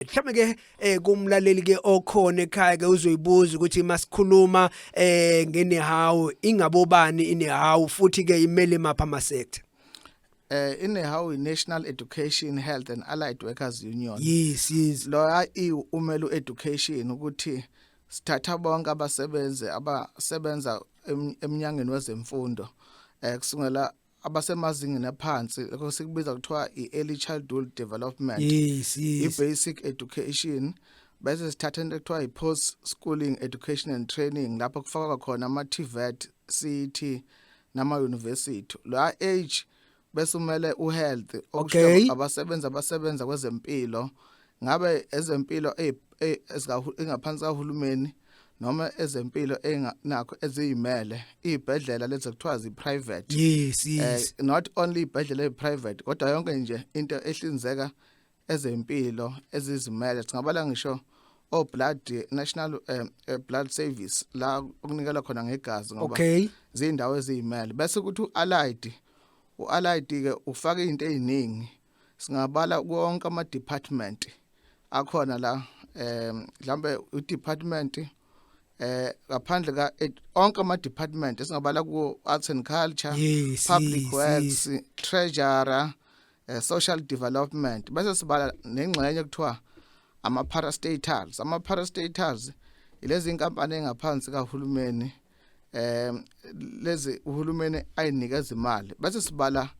mhlawumbe ke eh kumlaleli ke okhona ekhaya ke uzoyibuza ukuthi masikhuluma eh ngenehawu ingabobani inehawu futhi ke imele mapha ama sector eh inehawu National Education Health and Allied Workers Union yes yes loya i umelu education ukuthi sithatha bonke abasebenzi abasebenza emnyangweni wezemfundo eh kusungela abasemazingeni aphansi lokho sikubiza kuthiwa i-early childhood development yes, yes. i-basic education bese sithatha into ekuthiwa i-post schooling education and training lapho kufakwa khona ama-tvet cet nama-university la age bese umele uhealth okay. abasebenzi abasebenza kwezempilo ngabe ezempilo ezingaphansi kahulumeni noma ezempilo enakho eziyimele izibhedlela lezi kuthiwa ziprivate yes eh, yes uh, not only ibhedlela eziprivate kodwa yonke nje into ehlinzeka ezempilo ezizimele singabala ngisho o blood national um, blood service la okunikela khona ngegazi ngoba okay. zindawo eziyimele bese ukuthi uallied uallied ke ufaka izinto eziningi singabala konke ama department akhona la eh mhlambe u department eh ngaphandle ka eh, onke ama department esingabala ku arts and culture yes, public yes, works yes. treasurer eh, social development bese sibala nengxenye kuthiwa ama parastatals ama parastatals ilezi inkampani engaphansi kahulumeni eh lezi uhulumeni ayinikeza imali bese sibala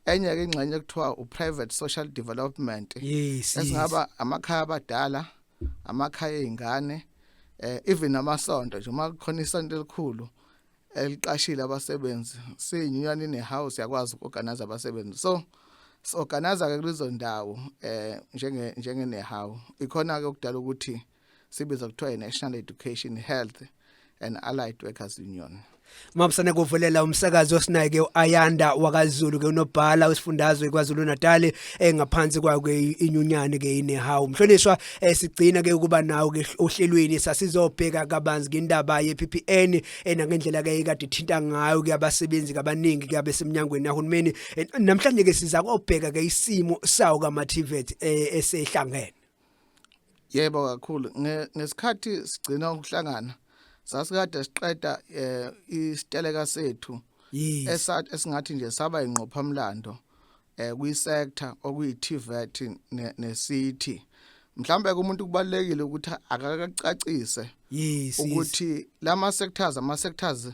enye ke ingxenye kuthiwa uprivate social development yes esingaba amakhaya abadala amakhaya ezingane eh even amasonto nje uma kukhona isonto elikhulu eliqashile abasebenzi siyinyunyana ine house yakwazi ukorganize abasebenzi so sorganize ke kulezo ndawo eh njenge njenge nehawu ikhona ke ukudala ukuthi sibiza kuthiwa i-national education health and allied workers union Mabusane kuvulela umsakazi osinayike uAyanda wakaZulu ke unobhala usifundazwe kwaZulu Natal engaphansi eh, kwakhe inyunyane ke inehawu mhlonishwa eh, sigcina ke ukuba nawo ke ohlelweni sasizobheka kabanzi ngendaba yePPN enangendlela eh, ke ikade ithinta ngayo ke abasebenzi kabaningi ke abesemnyangweni yahulumeni namhlanje ke siza kobheka ke isimo sawo kaMativet esehlangene yebo kakhulu ngesikhathi sigcina ukuhlangana sasikade siqeda eh isiteleka sethu esathi esingathi nje saba ingqophamlando eh kwi sector okuyi TVET ne city mhlambe kumuntu kubalekile ukuthi akakacacise ukuthi lama sectors ama sectors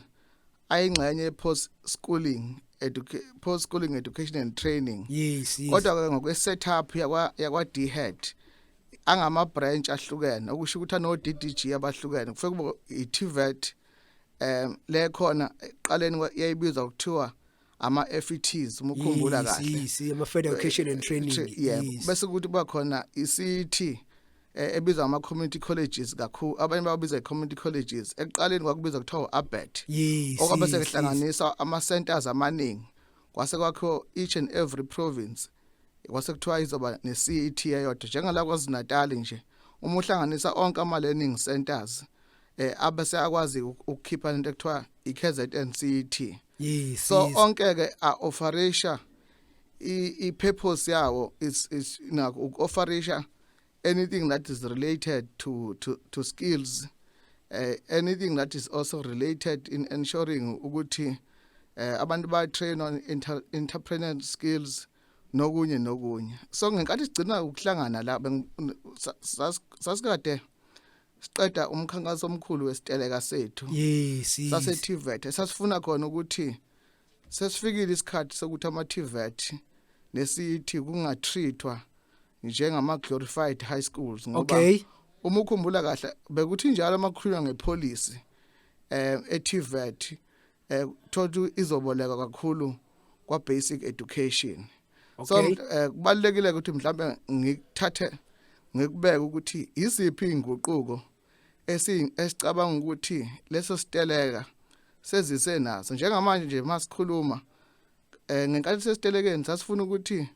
ayingxenye ye-post schooling post schooling education and training yes, yes. kodwa ke ngokwe setup yakwa yakwa DHET angama branch ahlukene okusho ukuthi ano DDG abahlukene kufike kubo iTVET um le khona eqaleni yayibizwa ukuthiwa ama FETs uma ukhumbula kahle yisi ama Federal Education and Training yeah bese kuthi kuba khona i CET eh, ebizwa ama community colleges kakhulu abanye babiza i community colleges ekuqaleni kwakubiza kuthiwa abet okwabe sekuhlanganisa ama centers amaningi kwase kwakho each and every province kwase kuthiwa izoba ne CET eyodwa njengala kwaZinatal nje uma uhlanganisa onke ama learning centers eh abese akwazi ukukhipha into ekuthiwa iKZN City yes so yes. onke ke a offerisha i i purpose yawo is is na u offerisha anything that is related to to to skills uh, anything that is also related in ensuring ukuthi uh, abantu ba train on inter, entrepreneurial skills nokunye nokunye so ngenkathi sigcina ukuhlangana la sasikade siqeda umkhankaso omkhulu wesiteleka sethu yes, yes. sase TVET sasifuna khona ukuthi sesifikile isikhathi sokuthi ama TVET nesithi kungatrithwa njengama glorified high schools ngoba okay. uma ukhumbula kahle bekuthi njalo amakhuluma ngepolicy eh eTVET eh thola izoboleka kakhulu kwa basic education so Okay. eh, kubalulekile ukuthi mhlawumbe ngikuthathe ngikubeke ukuthi iziphi inguquko esi esicabanga ukuthi leso siteleka sezise naso njengamanje nje masikhuluma eh ngenkathi sesitelekeni sasifuna ukuthi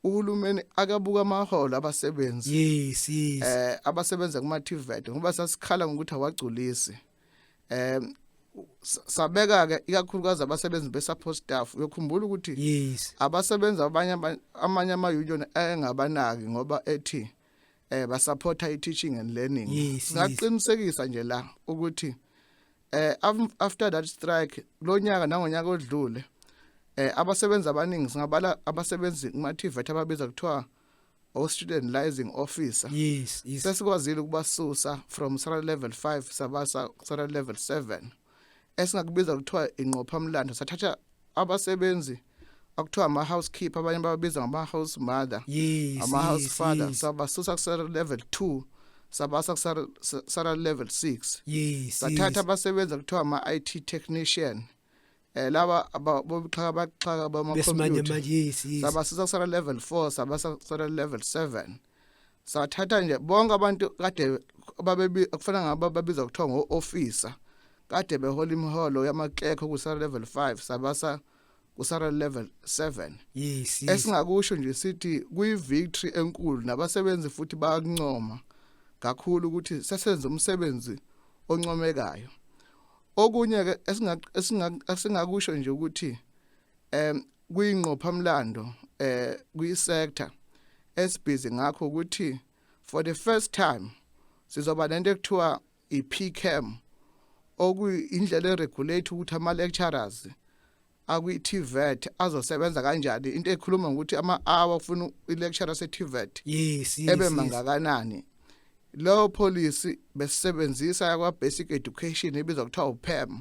uhulumeni akabuka amaholo abasebenzi yes yes eh abasebenza kuma TVET ngoba sasikhala ngokuthi awagculisi eh sabeka ke ikakhulukazi abasebenzi besupport staff uyokhumbula ukuthi yes abasebenzi abanye amanye ama union engabanaki ngoba ethi eh basupporta i teaching and learning yes, singaqinisekisa yes. nje la ukuthi eh after that strike lonyaka nangonyaka odlule eh abasebenzi abaningi singabala abasebenzi kuma TVET ababiza kuthiwa or student liaising officer yes yes sesikwazile ukubasusa from sara level 5 sabasa sara level 7 esingakubiza kuthiwa inqopha mlando sathatha abasebenzi akuthiwa ama housekeeper abanye bababiza ngama house mother yes ama yes, house father yes. sabasusa kusara level 2 sabasa kusara sara level 6 yes sathatha yes. abasebenzi kuthiwa ama IT technician eh laba bobuxhaka baxhaka bama besimanje manje yes yes sabasiza kusala level 4 sabasa kusala level 7 sathatha nje bonke abantu kade babebi kufana ngaba babiza kuthiwa ngo officer kade behola imiholo yamaklekho kusala level 5 sabasa kusara level 7 yes, yes. esingakusho nje sithi kuyi victory enkulu nabasebenzi futhi bayakuncoma kakhulu ukuthi sesenza umsebenzi oncomekayo okunye ke esingakusho nje ukuthi em kuyingqophamlando eh kuyisector esibhizi ngakho ukuthi for the first time sizoba nento ekuthiwa iPCAM okuyindlela eregulate ukuthi ama lecturers akwi-tvet azosebenza kanjani into ekhuluma ngokuthi ama-hour kufuna i-lecture ase-tvet yes, yes, ebe mangakanani yes. leyo policy besisebenzisa yakwa-basic education ebizwa kuthiwa upem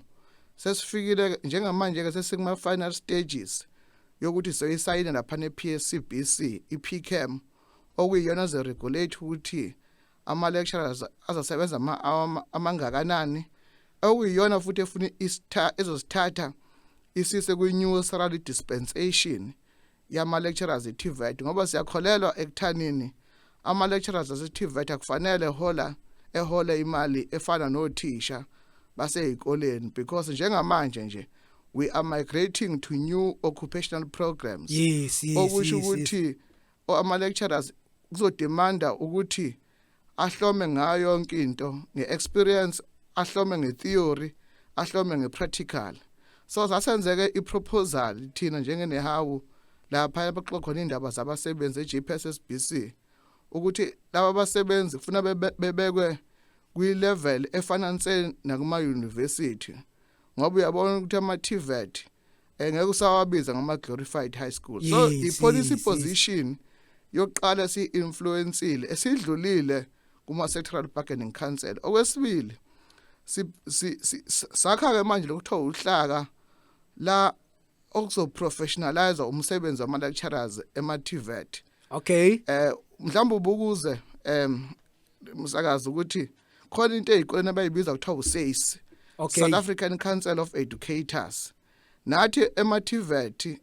sesifikile njengamanje-ke sesikuma-final stages yokuthi soyisayine laphana e-pscbc i-pcam okuyiyona ze-regulate ukuthi ama lecturers azosebenza ama hour amangakanani okuyiyona futhi efuna isitha ezosithatha isise kwi new salary dispensation yama lecturers eTVET ngoba siyakholelwa ekuthanini ama lecturers aseTVET akufanele hola ehole imali efana nothisha basezikoleni because njengamanje nje we are migrating to new occupational programs yes yes okusho ukuthi yes, yes. ama lecturers kuzodemanda ukuthi ahlome ngayo yonke into ngeexperience ahlome ngetheory ahlome ngepractical so zasenzeke iproposal thina njengenehawu lapha abaxoxa khona indaba zabasebenzi eJPSSBC ukuthi laba basebenzi kufuna bebekwe kwi-level efananise nakuma-university ngoba uyabona ukuthi ama-tvet eh, ngeke usawabiza ngama glorified high school so yes, i policy yes, position yes. yokuqala si influenceile esidlulile kuma sectoral bargaining council okwesibili si, si, si sakha ke manje lokuthiwa uhlaka la okuzoprofessionalize umsebenzi wama lecturers ema TVET okay eh mhlawumbe ubukuze em msakazi ukuthi khona into ezikoleni abayibiza kuthiwa usesi okay. South African Council of Educators nathi emathivethi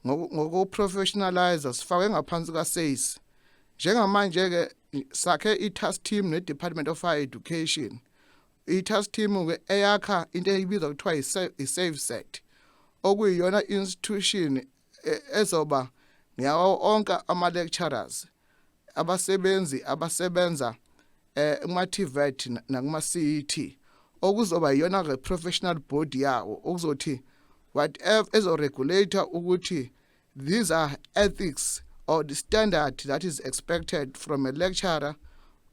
ngokuprofessionalize sifakwe ngaphansi kaSACE njengamanje ke sakhe i-task team ne-department of higher education i-task team ke eyakha into eyibiza kuthiwa i-save set okuyiyona institution e, ezoba ngiyawo onke ama-lecturers abasebenzi abasebenza eh kumaTVET nakumaCET okuzoba iyona ke professional board yawo okuzothi whatever ezo regulator ukuthi these are ethics or the standard that is expected from a lecturer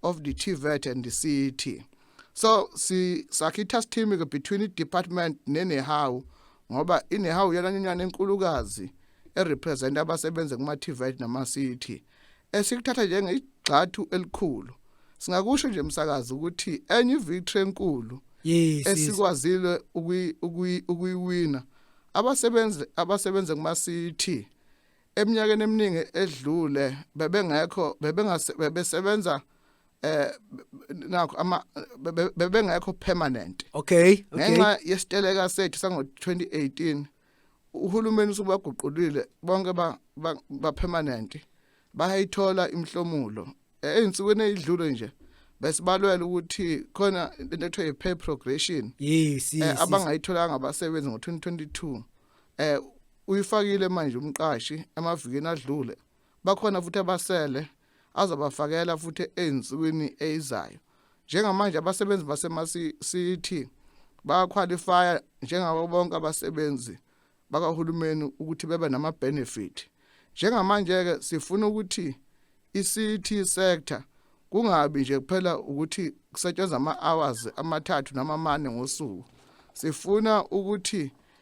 of the TVET and the CET so si sakitha sithimi ke between department nenehawu ngoba inehawu yonanyana enkulukazi erepresenta abasebenza kuma-tvit nama-city esikuthatha njengegxathu elikhulu singakusho nje msakazi ukuthi enye ivictory enkulu yes, esikwazile ukuyiwina abasebenzi abasebenza kuma-city eminyakeni eminingi edlule bebengekho bebesebenza eh nakho ama bebengekho permanent okay okay ngenxa yesiteleka sethu sango 2018 uhulumeni usubaguqulile bonke ba ba permanent bayayithola imhlomulo einsukwini ezidlule nje besibalwela ukuthi khona into ekuthiwa yi-pay progression yes, yes, eh, abangayitholanga abasebenzi ngo-2022 eh uyifakile manje umqashi emavikini adlule bakhona futhi abasele azobafakela futhi ezinsukwini ezizayo njengamanje abasebenzi basemasiti bayakhwalifaya njengabo bonke abasebenzi bakahulumeni ukuthi bebe nama-benefit njengamanje-ke sifuna ukuthi i-city sector kungabi nje kuphela ukuthi kusetshenzwa ama-hours amathathu noma amane ngosuku sifuna ukuthi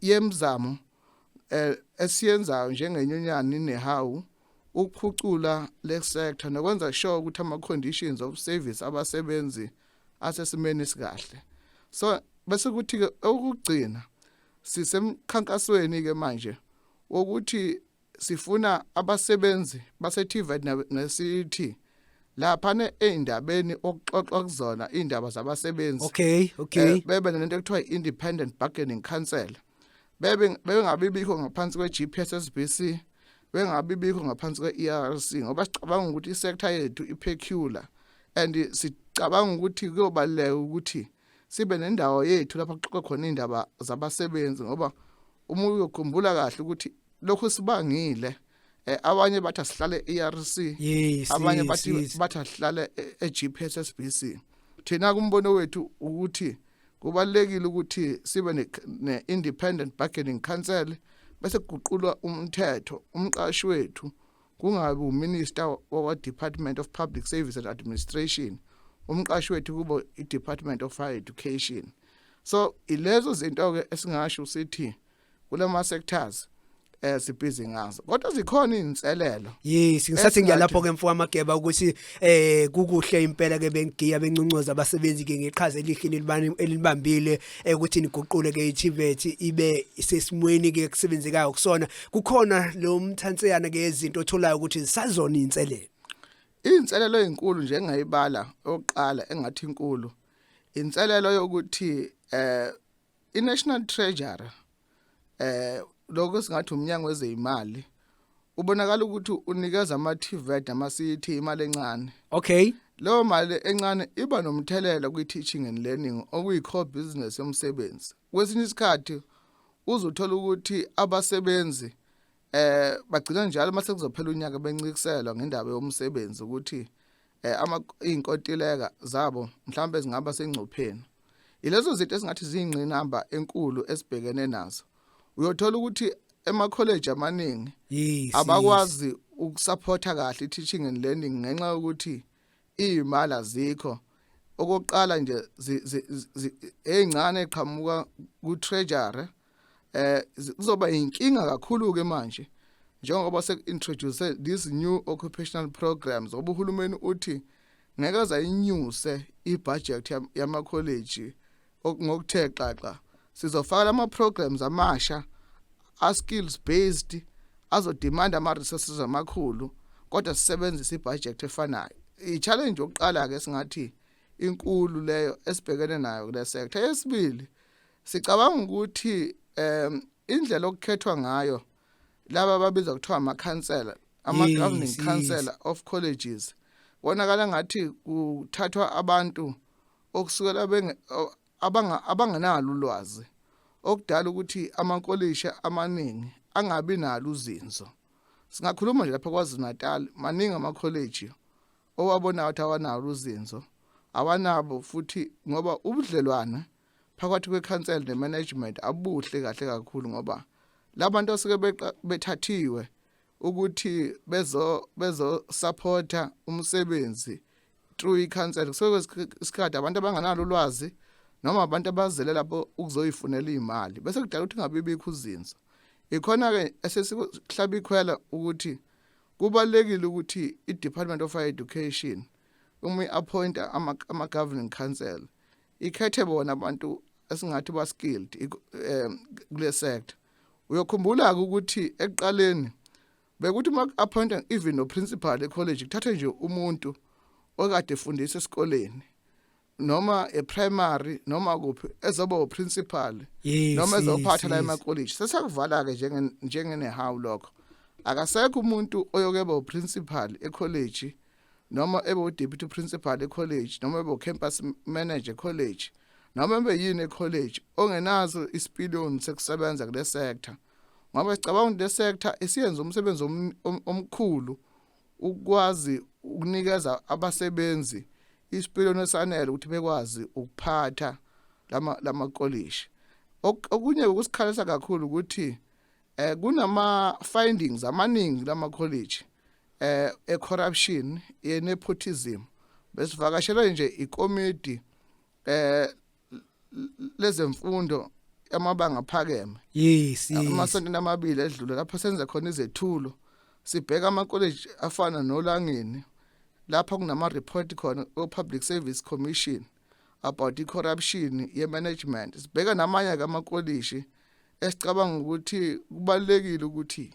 yemizamo eh, esiyenzayo njengenyunyana inehawu ukuphucula le sector nokwenza sure ukuthi ama-conditions of service abasebenzi asesimeni esikahle so bese kuthi-ke okugcina sisemkhankasweni-ke manje wokuthi sifuna abasebenzi baseTivet ngeCity laphana eindabeni okuxoxwa kuzona indaba zabasebenzi okay okay eh, bebe nento ekuthiwa independent bargaining council bebe bengabe bikho ngaphansi kweGPSSBC bengabe bikho ngaphansi kweERC ngoba sicabanga ukuthi isector yethu ipeculiar and sicabanga ukuthi kuyobaleka ukuthi sibe nendawo yethu lapho kuxoxe khona indaba zabasebenzi ngoba uma uyokhumbula kahle ukuthi lokhu sibangile eh, abanye bathi asihlale ERC yes, abanye bathi yes. bathi asihlale eGPSSBC e thina kumbono wethu ukuthi kubalekile ukuthi sibe ne, ne independent bargaining council bese kuguqulwa umthetho umqashi wethu kungabi uminister wakwa-department of public service and administration umqashi wethu kubo i-department of higher education so ilezo zinto-ke esingasho sithi kula ma-sectors eh sibhizi ngazo kodwa zikhona izinselelo yes ngisathi ngiyalapho ke mfoka mageba ukuthi eh kukuhle impela ke bengigiya benconcoza abasebenzi ke ngeqhaza elihle elibani elibambile ekuthini iguqule ke iTivet ibe sesimweni ke kusebenzekayo kusona kukhona lo mthanseyana ke izinto otholayo ukuthi zisazona inselelo inselelo ezinkulu nje engayibala oqala engathi inkulu inselelo yokuthi eh iNational Treasury eh lokho singathi umnyango wezeyimali ubonakala ukuthi unikeza ama TVET ama CET imali encane okay leyo mali encane iba nomthelela kwi teaching and learning okuyi core business yomsebenzi kwesinye isikhathi uzothola ukuthi abasebenzi eh bagcina njalo uma sekuzophela unyaka bencikiselwa ngendaba yomsebenzi ukuthi eh ama inkontileka zabo mhlawumbe zingaba sengcupheni ilezo zinto esingathi ziyingqinamba enkulu esibhekene nazo uyothola ukuthi ema college amaningi abakwazi ukusupporta kahle i-teaching and learning ngenxa yokuthi iyimali azikho okokuqala nje ezincane eqhamuka ku treasury eh kuzoba inkinga kakhulu ke manje njengoba sekuintroduce this new occupational programs obuhulumeni uthi ngeke zayinyuse ibudget yama college ngokuthe xaxa sizofaka ama programs amasha a skills based azodemand ama resources amakhulu kodwa sisebenzisa ibudget efanayo i challenge yokuqala ke singathi inkulu leyo esibhekene nayo kule sector yesibili sicabanga ukuthi um indlela okukhethwa ngayo laba babizwa kuthiwa ama counselor ama governing counselor of colleges wonakala ngathi kuthathwa abantu okusukela abangenalo ulwazi okudala ukuthi amankolishi amaningi angabi nalo uzinzo singakhuluma nje lapha KwaZulu-Natal maningi amakholeji owabonayo ukuthi awanalo uzinzo awanabo futhi ngoba ubudlelwane phakathi kwekhansela nemanagement abuhle kahle kakhulu ngoba labantu osuke bethathiwe ukuthi bezo bezo supporter umsebenzi through i-counseling so isikhathi abantu abanganalo ulwazi noma abantu abazele lapho ukuzoyifunela imali bese kudala ukuthi ngabibikho uzinzo ikhona ke esesihlaba ikhwela ukuthi kubalekile ukuthi i-Department of Education uma iappointa ama, ama governing council ikhethe bona abantu esingathi ba skilled um kule sector uyokhumbula-ke ukuthi ekuqaleni bekuthi uma ku-appointa even noprincipal ecollege kuthathe nje umuntu okade efundisa esikoleni noma eprimary noma kuphi ezoba uprincipal noma ezophatha la emacollege sesakuvala-ke njengenehawu lokho akasekho umuntu oyokeba uprincipal ecollege noma ebe udeputy principal ecollege noma ebe ucampus manager ecollege noma ebe yini ecollege ongenazo isipiliyoni sekusebenza kule sector ngoba sicabanga ukuthi le sector isiyenza umsebenzi omkhulu ukwazi ukunikeza abasebenzi isipiliyoni esanele ukuthi bekwazi ukuphatha lama lamakolishi okunye ukusikhalisa kakhulu ukuthi eh kunama findings amaningi lama college eh e corruption ye nepotism besivakashelwe nje ikomiti eh lezemfundo amabanga aphakeme yes amasonto amabili edlule lapho senze khona izethulo sibheka ama college afana nolangeni lapha kunama report khona o public service commission about i corruption ye management sibheka namanye ke amakolishi esicabanga ukuthi kubalekile ukuthi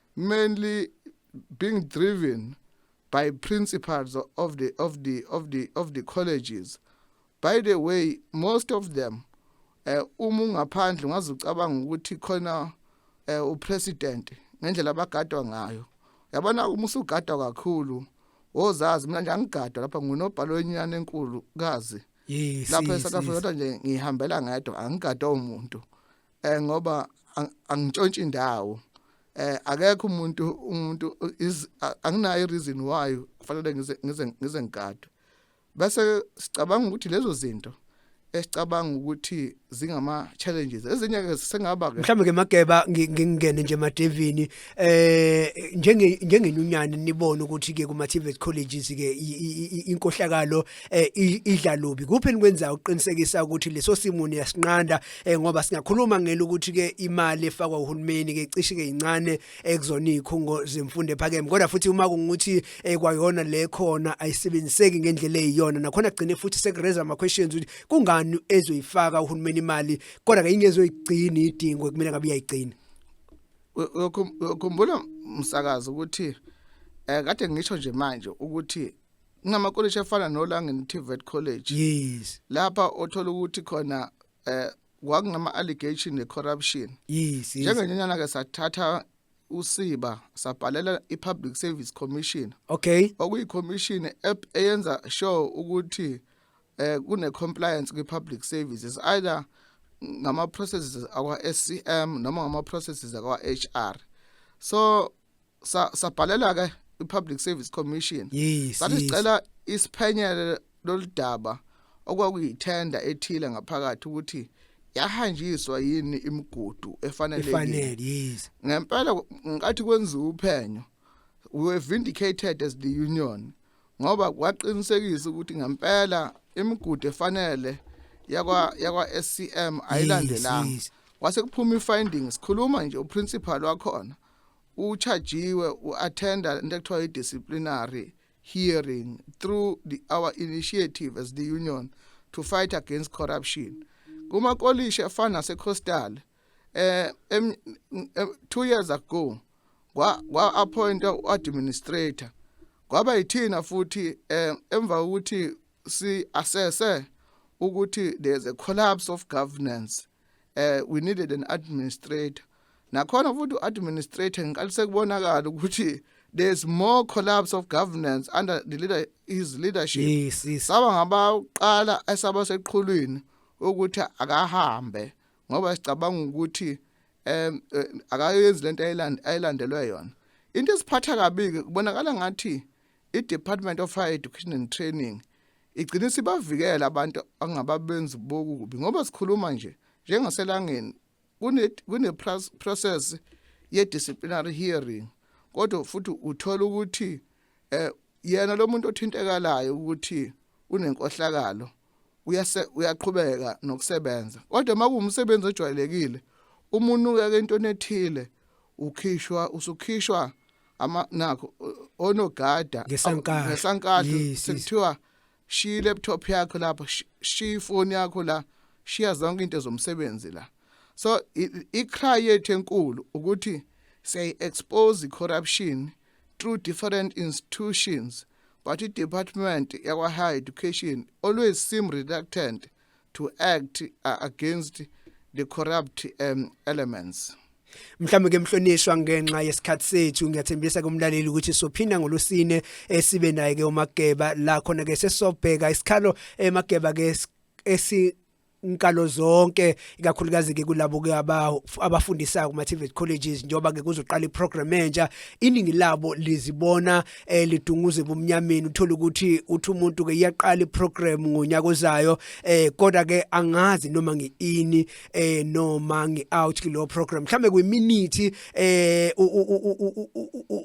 mainly being driven by principals of the of the of the of the colleges by the way most of them eh uma ungaphandle ungaze ucabanga ukuthi khona eh upresident ngendlela abagadwa ngayo yabona uma usugadwa kakhulu wozazi mina nje angigadwa lapha ngunobhalo wenyana enkulu kazi lapha eSouth Africa nje ngihambela ngedwa angigadwa umuntu eh ngoba angitshontshe indawo eh akekho umuntu umuntu anginayo reason why kufanele ngize ngize ngize ngikade bese sicabanga ukuthi lezo zinto esicabanga ukuthi zingama challenges ezinye ke sengaba ke mhlawumbe ke mageba ngingene nje emadevini eh njenge njengenyunyane nibone ukuthi ke kuma TVET colleges ke inkohlakalo eh, idla lubi kuphi enikwenzayo ukuqinisekisa ukuthi leso simo niyasinqanda eh, ngoba singakhuluma ngelo ukuthi ke imali efakwa uhulumeni ke cishe ke incane ekuzona izikhungo zemfundo ephakeme kodwa futhi uma kungukuthi eh, kwayona le khona ayisebenziseki ngendlela eyiyona nakhona gcine futhi sekureza ama questions ukuthi kungani ezoyifaka uhulumeni imali kodwa ke ingezoyigcina idingo kumele ngabe uyayigcina ukhumbula umsakazo ukuthi eh kade ngisho nje manje ukuthi ngamakoleji afana noLangeni TVET College yes lapha othola ukuthi khona eh kwakungama allegation ne corruption yes njengenyanyana ke sathatha usiba sabhalela iPublic Service Commission okay okuyi commission eyenza sure ukuthi eh kune compliance kwi public services either ngama processes akwa SCM noma ngama processes akwa HR so sa sabhalela ke iPublic Service Commission yes, sathi sicela isiphenyele loludaba okwakuyithenda ethile ngaphakathi ukuthi yahanjiswa yini imigudu efanelekile efanele yes ngempela ngathi kwenza uphenyo we were vindicated as the union ngoba kwaqinisekisa ukuthi ngempela imigudu efanele yakwa yakwa SCM ayilandelanga yes, yes. wase kuphuma ifindings sikhuluma nje uprincipal wakhona uchajiwe u-attenda into ekuthiwa i-disciplinary hearing through the, our initiative as the union to fight against corruption kumakolishi afana nasecoastal eh two years ago kwa-appointa u-administrator kwaba yithina futhi eh, emva kokuthi si-assesse ukuthi there's a collapse of governance eh we needed an administrator nakhona futhi uadministrator ngiqale sekubonakala ukuthi there's more collapse of governance under the leader his leadership yes, yes. saba ngabaqala esaba seqhulwini ukuthi akahambe ngoba sicabanga ukuthi em eh, akayenzi lento ayilandelwe yona into esiphatha kabi kubonakala ngathi i-Department of Higher Education and Training igcina isibavikela abantu angababenzi bokubi ngoba sikhuluma nje njengaselangeni kune-process kune ye-disciplinary hearing kodwa futhi uthola ukuthi eh yena lo muntu othintekalayo ukuthi unenkohlakalo uyaqhubeka nokusebenza kodwa uma kuwumsebenzi ojwayelekile umuntu uyake into ethile ukhishwa usukhishwa ama nakho onogada ngesankala ngesankala sekuthiwa shiya ilaptop yakho lapha shiya ifoni yakho la shiya zonke into zomsebenzi la so icry yethu enkulu ukuthi say expose corruption through different institutions but i-department yakwa-higher education always seem reluctant to act uh, against the corrupt um, elements mhlawumbe ke mhlonishwa ngenxa yesikhathi sethu ngiyathembisa kumlaleli ukuthi sophinda ngolusine esibe naye ke uMageba la khona ke sesobheka isikhalo eMageba eh, ke esi inkalo zonke ikakhulukazi ke kulabo ke abafundisayo kuma TVET colleges njoba ke kuzoqala iprogram entsha iningi labo lizibona elidunguze bumnyameni uthola ukuthi uthi umuntu ke iyaqala iprogram ngonyaka ozayo eh kodwa ke angazi noma ngiini eh noma ngiout kulo program mhlambe kwiminute eh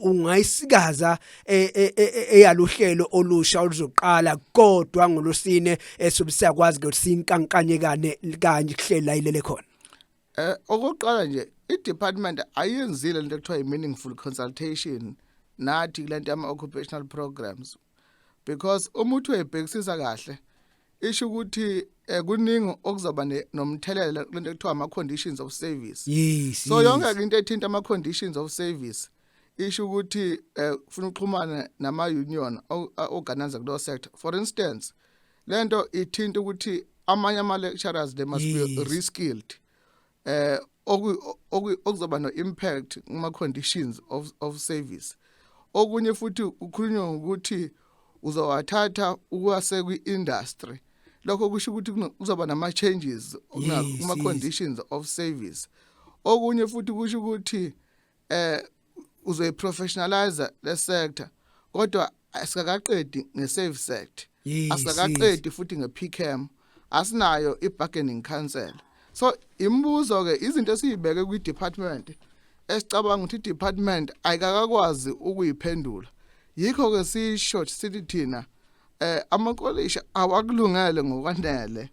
ungayisikaza eh, eh, eh, eyaluhlelo olusha oluzoqala kodwa ngolosine esubisa kwazi ukuthi sinkankanyekane kanye kuhlela ilele khona Eh okokuqala nje i-department ayenzile lento ekuthiwa i-meaningful consultation nathi kulento yama-occupational programs because uma uthi uyibhekisisa kahle isho ukuthi eh kuningi okuzoba ne- nomthelela kulento ekuthiwa ama-conditions of service yes so yes. yonke ke into ethinta ama-conditions of service isho ukuthi eh kufuna uxhumane nama-union o- a- organize kuleyo sector for instance lento ithinta ukuthi amanye ama lecturers they must yes. be reskilled eh okuzoba no impact kuma conditions of of service okunye futhi ukhulunywa ukuthi uzowathatha ukwase kwi industry lokho kusho ukuthi kuzoba nama changes kuma conditions of service okunye futhi kusho ukuthi eh uzoyiprofessionalize le sector kodwa asikakaqedi ngeSave Sect asikakaqedi futhi ngePCAM asinayo ibargaining council so imibuzo ke izinto esiyibeke kwi department esicabanga ukuthi department ayikakakwazi ukuyiphendula yikho ke sisho sithi thina eh amakolisha awakulungele ngokwanele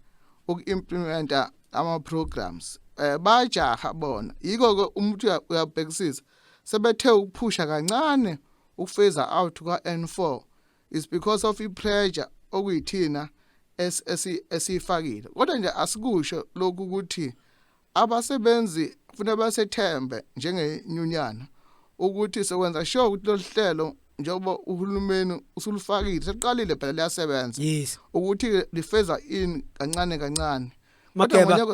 uku-implementa ama programs eh bajaha bona yiko ke umuntu uyabhekisisa sebethe ukuphusha kancane ukufeza out kwa N4 is because of i pressure okuyithina esifakile kodwa nje asikusho lokhu ukuthi abasebenzi kufanele basethembe njengenyunyana ukuthi sekwenza sure ukuthi lolu hlelo njengoba uhulumeni usulufakile sekuqalile phela liyasebenza yes ukuthi lifeza in kancane kancane Mageba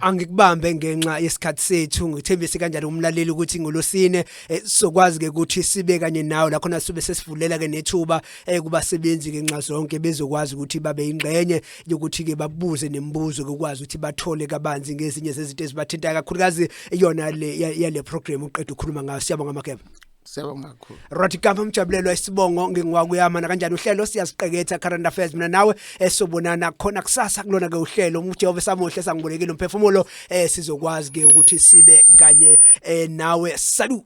angikubambe ngenxa yesikhathi sethu ngithembise kanjalo umlaleli ukuthi ngolosine eh, sokwazi ke ukuthi sibe kanye nawe la khona sibe sesivulela ke nethuba eh, kubasebenzi ngenxa zonke bezokwazi ukuthi babe ingxenye yokuthi-ke babuze nemibuzo kokwazi ukuthi bathole kabanzi ngezinye zezinto ezibathintayo kakhulukazi yona le ya- yale program uqeda ukhuluma ngayo siyabonga makeba Siyabonga kakhulu. Roti Kampa Mjabulelwa isibongo ngingiwakuyama nakanjani uhlelo siyaziqeketha current affairs mina nawe esobonana khona kusasa kulona ke uhlelo uJehova samuhle sangibolekile umphefumulo eh sizokwazi ke ukuthi sibe kanye eh nawe salut